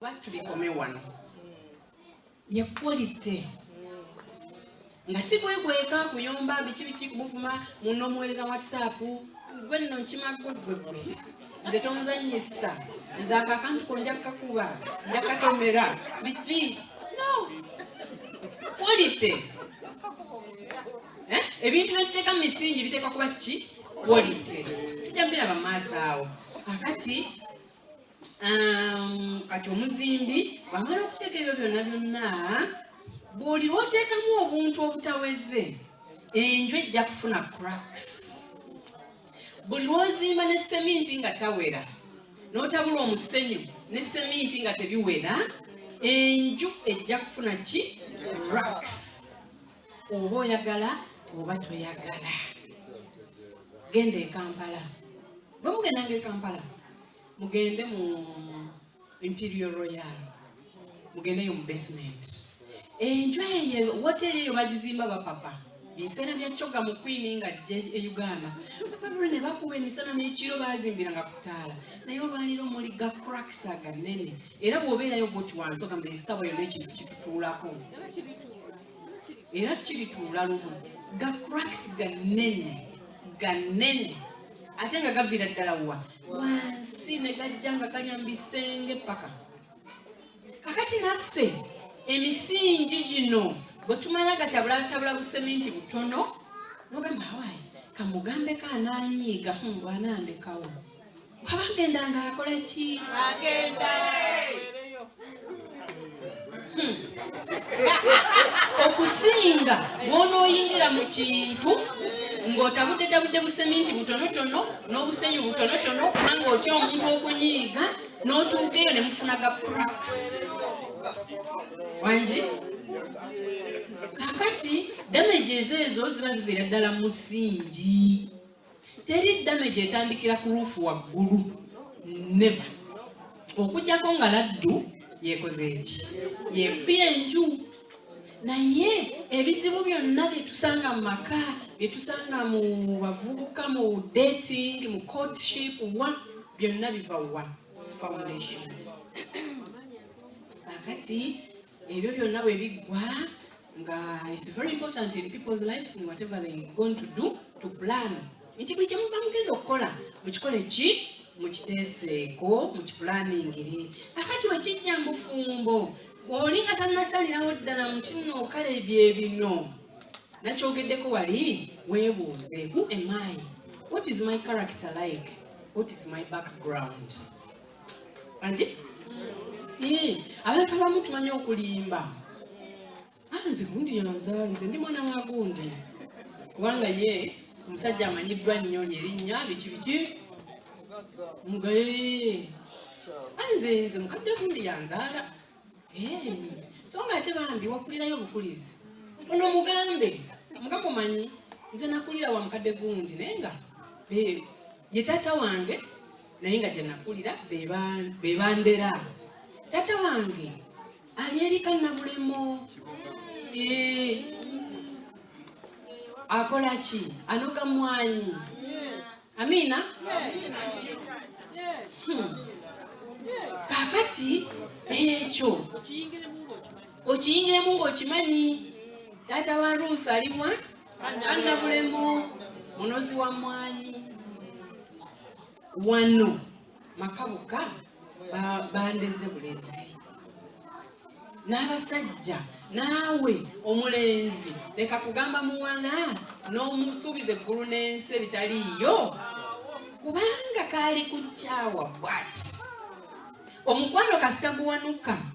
lwaki tubikome wano ye quality nga si kwekweka kuyomba biki biki kubuvuma muno omuweereza whatsapp gwe nno nkimago gwe gwe nze tonzanyisa nze ako akantu ko nja kukakuba nja kukatomera biki no quality eh? ebintu byekiteeka mu misingi biteekwa kuba ki quality tujja biraba maaso awo akati um, kati omuzimbi bwamala okuteeka ebyo byonna byonna buli lwoteekamu obuntu obutaweze enju ejja kufuna cracks buli lwozimba ne seminti nga tawera notabula omusenyu ne seminti nga tebiwera enju ejja kufuna ki cracks oba oyagala oba toyagala genda ekampala bwe mugendanga ekampala mugende mu imperial royal mugendeyo mu basement enju eyo woteri eyo bagizimba bapapa biseera bya coga mu kwini nga jje e uganda bapadulo ne bakuba emisana n'ekiro bazimbira nga kutaala naye olwaliro muli ga cracks aganene era bw'obeerayo goti wansi ogamba esawa yona ekintu kitutuulako era kirituula lumu ga cracks gannene gannene ate nga gaviira ddala wa wansi ne gajja nga ganyambisenge paka kakati naffe emisingi gino bwe tumala gatabulatabula buseminti butono nogamba hawaii kamugambe kaananyiiga hmm, bwanandekawo abagenda nga akola ki agenda hmm. okusinga bwonooyingira mu kintu ng'otabudde tabudde buseminti butonotono n'obusenyu butonotono kubanga otya omuntu okunyiiga n'otuuka eyo ne mufuna ga praks wangi kakati damages ezo ziba ziviira ddala musingi Teri damage etandikira ku ruufu waggulu neva okujjako nga laddu yekoze eki yekubye enju naye ebizibu byonna byetusanga mu maka byetusanga mu bavubuka mu dating mu courtship wa byonna biva wa foundation kakati ebyo byonna bwe biggwa nga it's very important in people's lives in whatever they going to do to plan nti buli kyemuva mugenda okukola mukikole ki mukiteeseeko mukipulaaningire akati wekijja mufumbo oli nga tanasalirawo ddala mukino kale bye bino nakyogeddeko wali weebuuze who am i what is my character like what is my background andi abantu abamu tumanyi okulimba ah, nze gundi yanzala nze ndi mwana wa gundi kubanga ye omusajja amanyiddwa nnyo lyerinnya biki biki mugaye ah, nze nze mukadde gundi yanzaala eh, so nga ate bambi wakulirayo obukulizi ono mugambe mugamumanyi nze nakulira wa mukadde gundi naye nga ye taata wange naye nga gyenakulira bebandera taata wange ali erika nabulemo eh, akola ki anoga mwanyi amina hmm. kakati ekyo okiyingiremu ngaokimanyi taata wa ruusi alimwa annabulemu munozi wa mwanyi wano maka bokka bandeze bulezi n'abasajja naawe omulenzi leka kugamba muwala n'omusuubiza eggulu n'ensi ebitaliiyo kubanga kaali ku kyawa bwati omukwano kasita guwanuka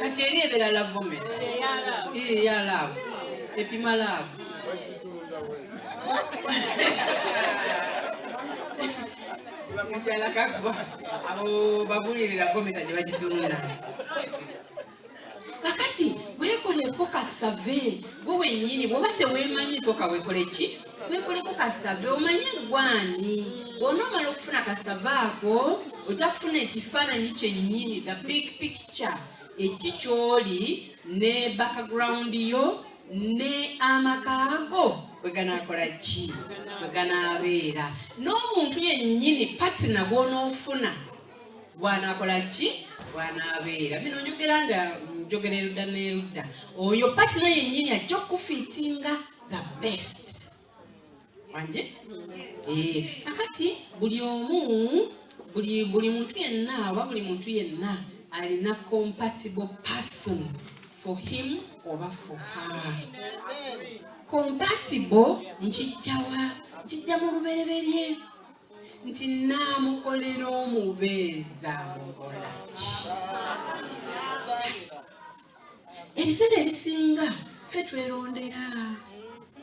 kati eri ebera lavome ya laavu epima laavu mukyala kakuba abo babulirira gometa gye bagitunda kakati wekoleko kasave gwe wenyini bwoba tewemanyi soka wekole ki wekuliko kasave omanye gwani bwonomala okufuna kasave ako ojja kufuna ekifaananyi kyennyini the big picture eki kyoli ne background yo ne amaka go weganakola ki weganabeera n'omuntu yennyini patina bwonoofuna bwanakola ki bwanabeera bino njogera nga njogererudda nerudda oyo patina yennyini ajja okufiitinga the best wanje eh, kakati buli omu buli buli muntu yenna oba buli muntu yenna alina compatible person for him oba for her compatible nkijjawa nkijja mu lubereberye nti naamukolera omubeeza mukolaki ebiseera ebisinga ffe twerondera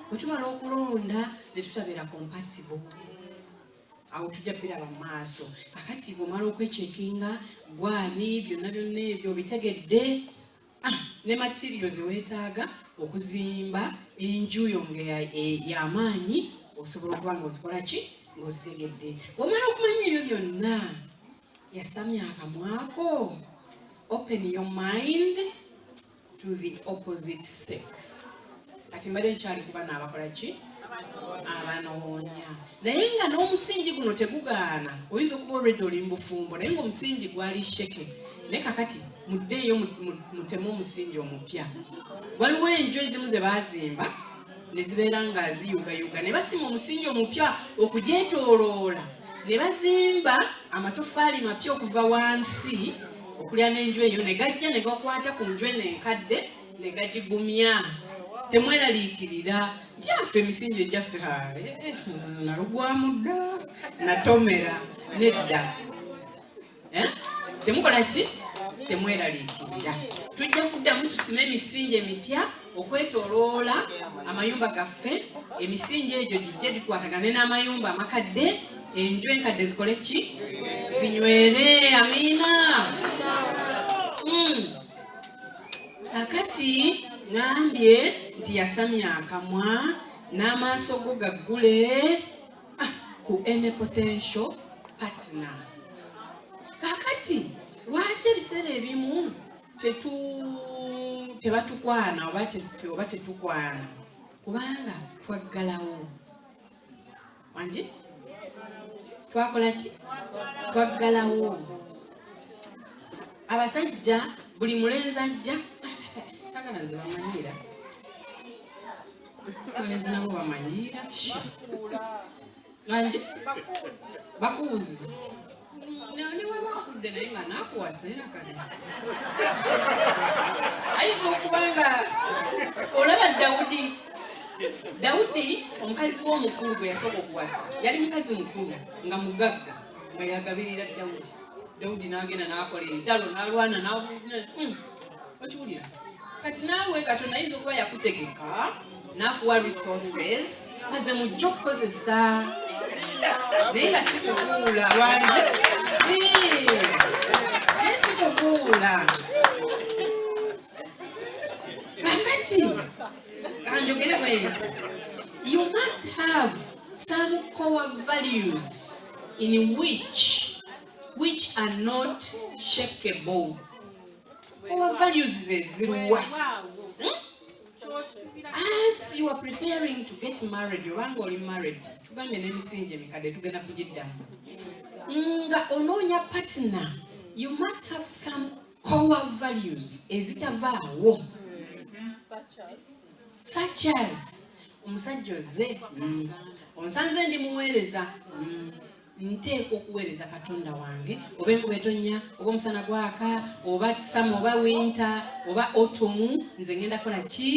wetumala okulonda netutabeera compatible awo tujja biraba mu maaso kakati bwomala okwechekinga gwani byonna byonna ebyo obitegedde ah, ne matirio zewetaaga okuzimba enju yo nga yamaanyi osobola okuba nga ozikola ki ngaozitegedde bwomala okumanya ebyo byonna yasamya akamwako open your mind to the opposite sex kati mbadde nkyali kuba naabakola ki abanoonya naye nga n'omusingi guno tegugaana oyinza okuba olwedde oli mubufumbo naye ngaomusingi gwali sheke ne kakati muddeeyo mutemu omusingi omupya waliwo enju ezimu ze baazimba ne zibeera nga ziyugayuga ne basima omusingi omupya okugyetooloola ne bazimba amatoffaali mapya okuva wansi okulya n'enju eyo ne gajja ne gakwata ku nju eno enkadde ne gagigumya temweraliikirira nti affe emisingi egyaffe eh, eh, nalugwamu dda natomera nedda eh? temukola ki temweraliikirira tujja kuddamu tusime emisingi emipya okwetoloola amayumba gaffe emisingi egyo gijja gikwatagane n'amayumba amakadde enju enkadde zikole ki zinywere amiina hmm. kakati ngambye nti yasamya akamwa n'amaaso go gaggule ku any potential partner. Kakati lwaki ebiseera ebimu tetu tebatukwana oba tetukwana kubanga twaggalawo wangi twakola ki twaggalawo abasajja buli mulenzi ajja sagala nze bamanyira abalenzi nabo bamanyiira langi bakuuzi newebakudde naye nga nakuwasa era kale ayinza okuba nga olaba dawudi dawudi omukazi we omukulu gwe yasooka okuwasa yali mukazi mukulu nga mugagga nga yagabirira dawudi dawudi n'agenda n'akola entalo n'alwana n'abuuna hmm. okiwulira kati naawe katonda ayinza okuba yakutegeka nakuwa resources aze mujja okukozesa naye nga sikukuula wange naye sikukuula kakati kanjogere bwenti you must have some core values in which which are not shakeable Our values zeziruwa hmm? as you are preparing to get married obanga oli married tugambye n'emisingi emikadde tugenda kugiddamu nga onoonya partner you must have some core values ezitavaawo such as omusajja ozze hmm. onsanze ndi muweereza hmm. nteekwa okuweereza katonda wange oba enkuba etonnya oba omusana gwaka oba kisama oba winta oba otomu nze ngenda kola ki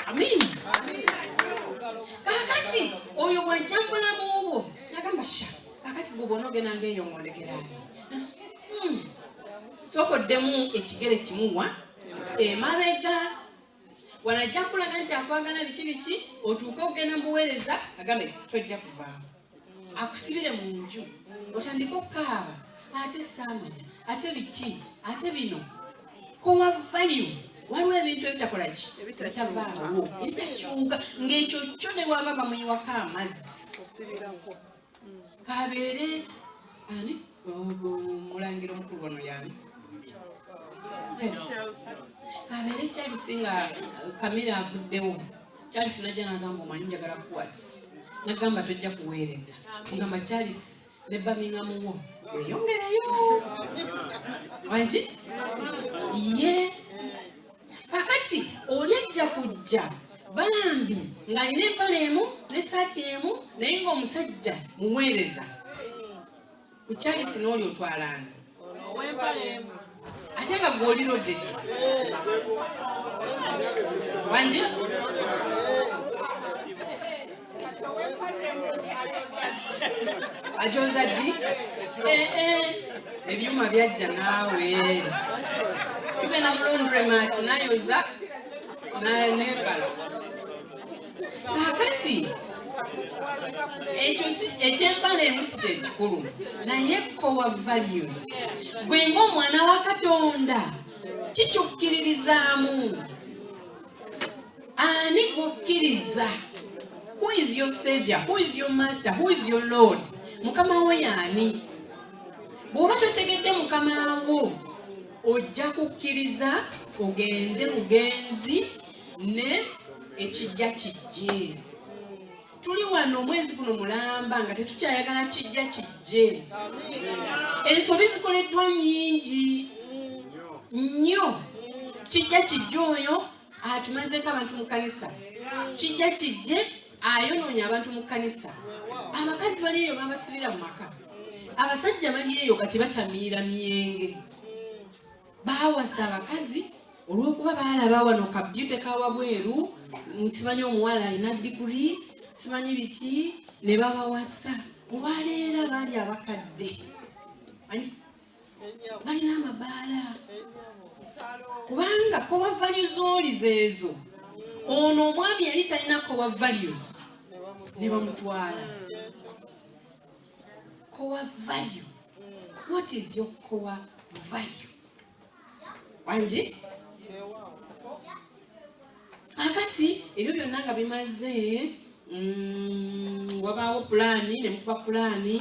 amiina kakati oyo bwajja mubulamu bwo nagamba sha kakati gwe bona ogenda ngaeyongondekera hmm. sokoddemu ekigere kimuwa emabega wano ajja kukulaga nti akwagala biki biki otuuke okugenda mubuweereza agambe tojja kuvaamu akusibire mu nju otandike okukaaba ate saamanya ate biki ate bino kowa value waliwo ebintu ebitakola ki ebitavaawo ebitakyuka ng'ekyo kyo ne waba bamuyiwako amazzi kabeere ani mulangira omukulu wano yani kabeere charles nga kamera avuddewo charles najja nagamba omanyi njagala kukwasa nagamba tojja kuweereza ogamba charles ne bamingamuwo weyongereyo wangi ye yeah. kakati oli ajja kujja bambi ng'alina empala emu n'essaati emu naye ng'omusajja muweereza ku charisi n'oli otwalanga ate nga gwolina odede wangi ajoza ddi eh, eh. ebyuma byajja naawe tugenda mulondremat nayoza nebala kakati ekyo ekyembala emu si kyekikulu naye kowa values gwe ngaomwana wa katonda kikyokkiririzaamu ani kukkiriza who is your savior who is your master who is your lord mukama wo yaani bw'oba totegedde mukama wo ojja kukkiriza ogende mugenzi ne ekijja kijje tuli wano omwezi guno mulamba nga tetukyayagala kijja kijje ensobi zikoleddwa nyingi nnyo kijja kijja oyo atumazeeko abantu mu kanisa kijja kijje ayonoonye abantu mu kanisa abakazi bali eyo babasibira mu maka abasajja bali eyo kati batamiira myenge bawasa abakazi olwokuba baalaba wano kabyute kawabweru simanyi omuwala alina diguri simanyi biki ne babawasa olwaleero abaali abakadde balina amabaala kubanga kowa values oli zeezo ono omwami yali talina kowa values ne bamutwala kowa value what is your kowa value wangi kakati ebyo byonna nga bimaze mm, wabaawo pulaani ne mukuba pulaani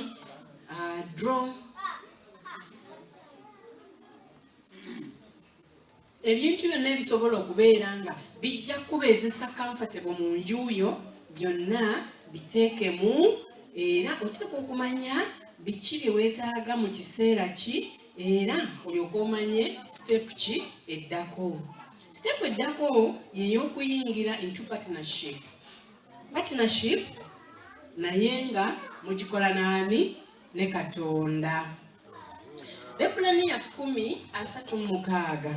Uh, draw ebintu byonna ebisobola okubeera nga bijja kuba ezisa comfortable mu nju yo byonna biteekemu era oteeka okumanya biki bye weetaaga mu kiseera ki era olyoka omanye sitepu ki eddako sitepu eddako yey'okuyingira into partnership partnership naye nga mugikola naani ne katonda bebulaniya kumi asatu mumukaaga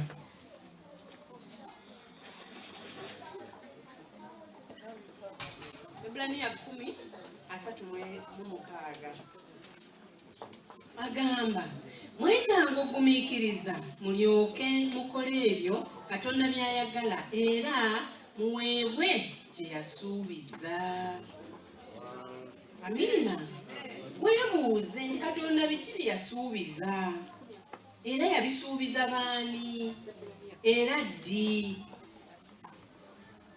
bebulaniya kumi asatu mumukaaga agamba mwetanga okugumikiriza mulyoke mukole ebyo katonda byayagala era muweebwe gye yasuubiza amiina weebuuze nti katonda biki bye yasuubiza era yabisuubiza baani era ddi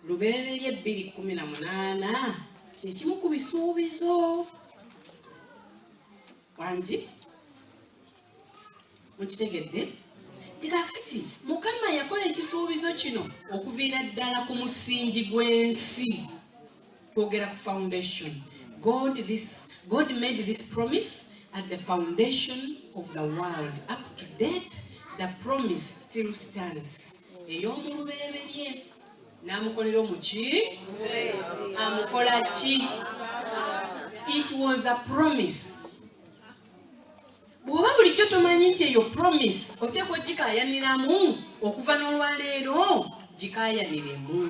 Lubereberye bbiri kkumi na munaana kyekimu ku bisuubizo wangi mukitegedde kikakati mukama yakola ekisuubizo kino okuviira ddala ku musingi gw'ensi twogera ku foundation god this god made this promise at the foundation of the world up to date the promise still stands ey'omulubereberye n'amukolera omuki amukola ki it was a promise bw'oba bulijjo tomanyi nti eyo promise oteekwa ogikayaniramu okuva n'olwaleero gikayaniremu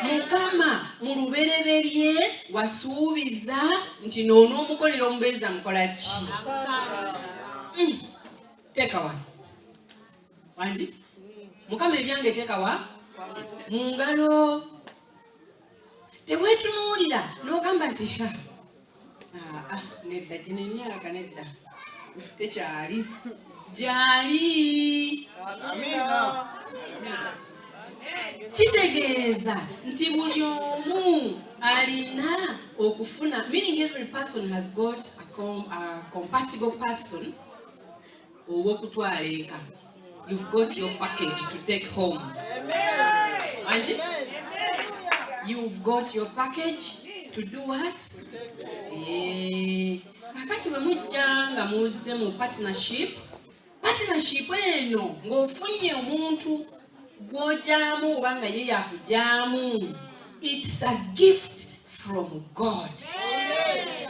mukama mu lubereberye wasuubiza nti noonoomukolera omubeezi amukola ki hmm. teeka wano wangi mukama ebyange tekawa mu ngalo tewetunuulira n'ogamba nti ah, ah, nedda gino emyaka nedda tekyali gyali kitegeeza nti buli omu alina okufuna meaning every person has got a, com, a compatible person ow'okutwala eka you've got your package to take home anti you've got your package to do what eh, kakati bwe mujja nga muzze mu partnership partnership eno ng'ofunye omuntu gw'ogyamu oba nga ye yakugyamu it's a gift from god Amen.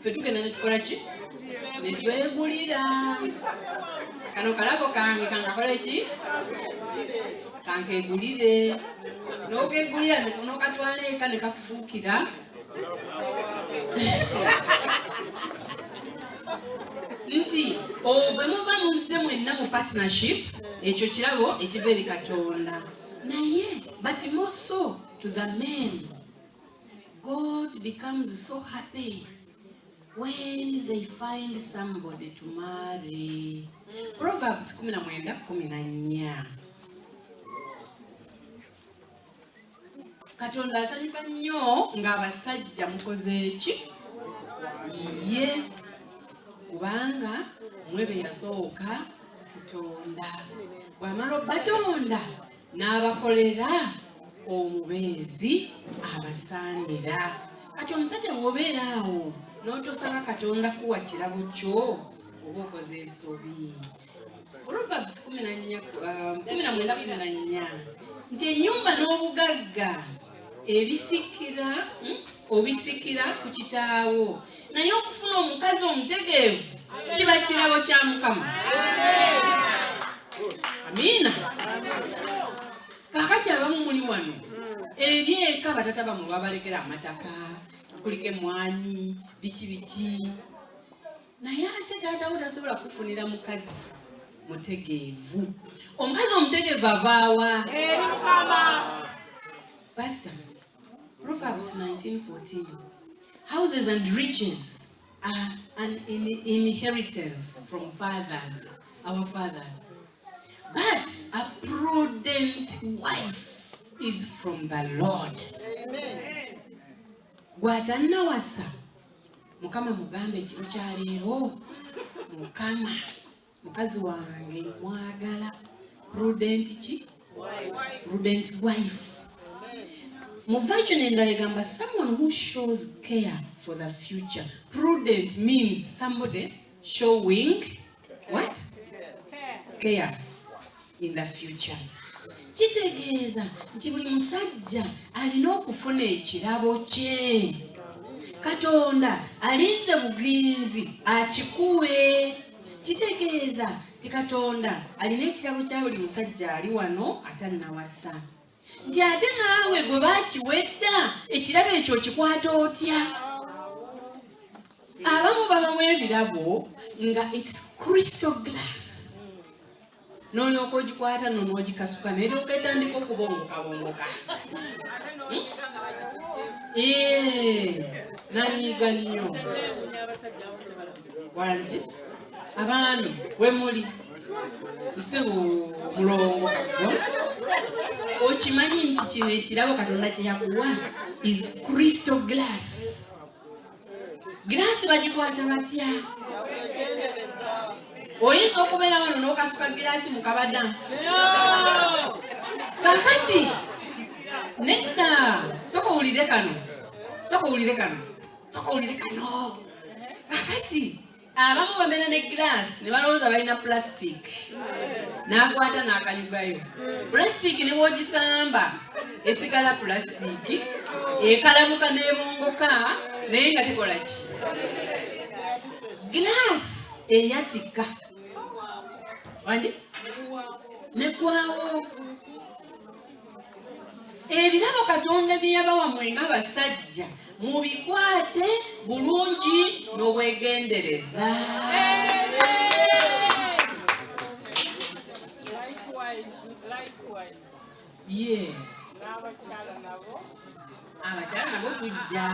ffe tugenda netukola ki netwegulira kano kalabo kange kankakola ki kankegulire nokegulira nokatwala eka nekakufuukira nti obwe muba muzze mwenna mu partnership ekyo kirabo ekiva eri katonda naye but more so to the men God becomes so happy when they find somebody to marry. Proverbs 19:14. Katonda asanyuka nnyo ng'abasajja mukoze eki ye kubanga mwe be yasooka kutonda bw'amala obatonda n'abakolera omubeezi abasaanira kati omusajja bwobeera awo n'otosaba katonda kuwa kirabo kyo oba okoze ensobi proverbs kumi na nnya uh, kumi na mwenda kumi na nnya nti enyumba n'obugagga ebisikira hmm, obisikira ku kitaawo naye okufuna omukazi omutegeevu kiba kirabo kya mukama amiina kakati abamu muli wano eri eka batata bamwe babalekera amataka kuliko emwanyi biki biki naye ate taata wo tasobola kufunira mukazi mutegeevu omukazi omutegeevu avaawa eri mukama pasita proverbs 1914 houses and riches are an in inheritance from fathers our fathers but a prudent wife is from the lord Amen. gwatannawasa mukama mugambe ekiro kya leero mukama mukazi wange mwagala prudent ki prudent wife mu version endala egamba someone who shows care for the future prudent means somebody showing what care in the future kitegeeza nti buli musajja alina okufuna ekirabo kye katonda alinze bugenzi akikuwe kitegeeza nti katonda alina ekirabo kya buli musajja ali wano atannawasa nti ate naawe gwe bakiwedda ekirabo ekyo okikwata otya abamu babamu ebirabo nga its crystal glass nolyoka ogikwata nonogikasuka naye noketandika okubongokabongoka hmm? nanyiga nnyo wangi abaami wemuli nse mulongo kasiko okimanyi nti kino ekirabo katonda kyeyakuwa is crystal glass giraasi bagikwata batya oyinza okubeera wano n'okasuka giraasi mu kabada kakati nedda soka owulire kano soka owulire kano soka owulire kano kakati abamu bamena ne giraasi ne balowooza balina pulasitiiki n'akwata n'akanyugayo pulasitiiki ne bwogisamba esigala pulasitiiki ekalamuka n'ebongoka naye nga tekola ki giraasi eyatika wanje negwawo ebirabo katonda bye yabawa mwe nga basajja mubikwate bulungi n'obwegendereza yes abakyala nabo tujja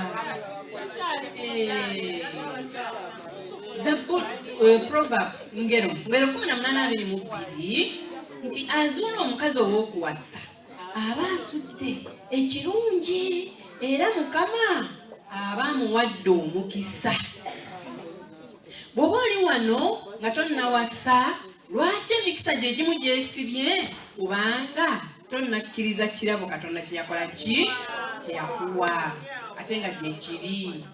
zabbul eh, proverbs ngero ngero kumi na munana abiri mu bbiri nti azuula omukazi ow'okuwasa aba asudde ekirungi era mukama aba amuwadde omukisa bw'oba oli wano nga tonnawasa lwaki emikisa gye gimu gyesibye kubanga tonnakkiriza kirabo katonda kyeyakola ki kyeyakuwa ate nga gyekiri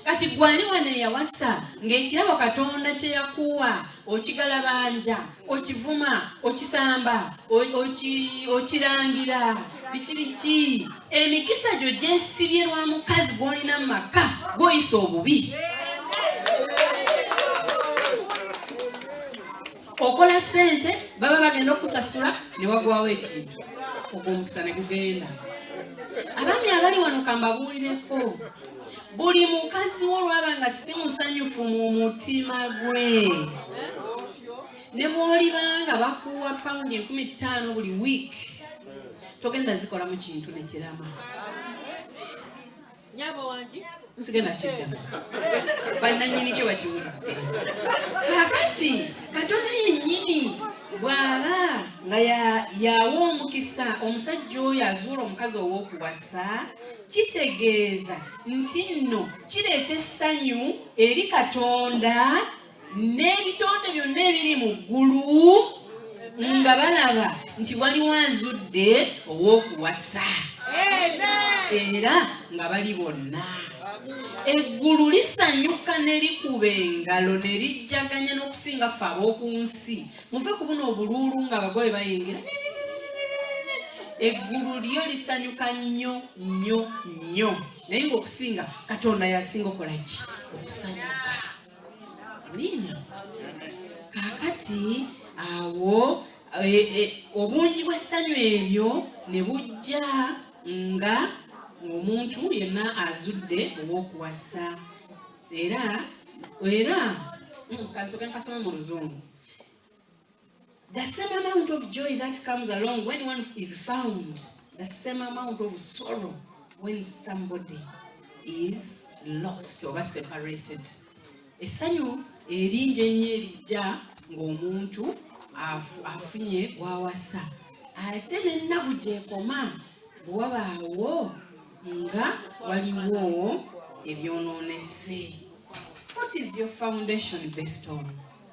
kati gwani wano eyawasa ng'ekirabo katonda kyeyakuwa okigalabanja okivuma okisamba okirangira biki biki emikisa gyo gyesibye lwa mukazi gwolina mu maka gwoyisa obubi yeah. okola sente baba bagenda okusasula newagwawo ekintu ogwo omukisa negugenda abaami abali wano kambabuulireko buli mukazi wo olwaba nga si musanyufu mu mutima gwe ne bwolibanga bakuwa pawundi enkumi ttaano buli wiiki togenda zikolamu kintu nekirama nyabo wangi nsigenda kiddamu bannanyini kyo bakiwulidde kakati katonda yennyini bw'aba nga yawa omukisa omusajja oyo azuula omukazi ow'okuwasa kitegeeza nti nno kireeta essanyu eri katonda n'ebitonde byonna ebiri mu ggulu nga balaba nti waliwo azudde ow'okuwasa era nga bali bonna eggulu lisanyuka ne likuba engalo ne lijjaganya n'okusinga ffe ab'oku nsi muve ku buno obuluulu nga abagole bayingira eggulu lyo lisanyuka nnyo nnyo nnyo naye ngaokusinga katonda yasinga okola ki okusanyuka Amina. Kaakati awo e, e, obungi bw'essanyu eryo ne bujja nga omuntu yenna azudde ow'okuwasa era era mm, kansoke nkasome mu luzungu The same amount of joy that comes along when one is found, the same amount of sorrow when somebody is lost or separated. Esanyu erinje nnyo erijja ng'omuntu afunye gwawasa ate n'ennaku gyekoma bwe wabaawo nga waliwo ebyonoonese. What is your foundation based on?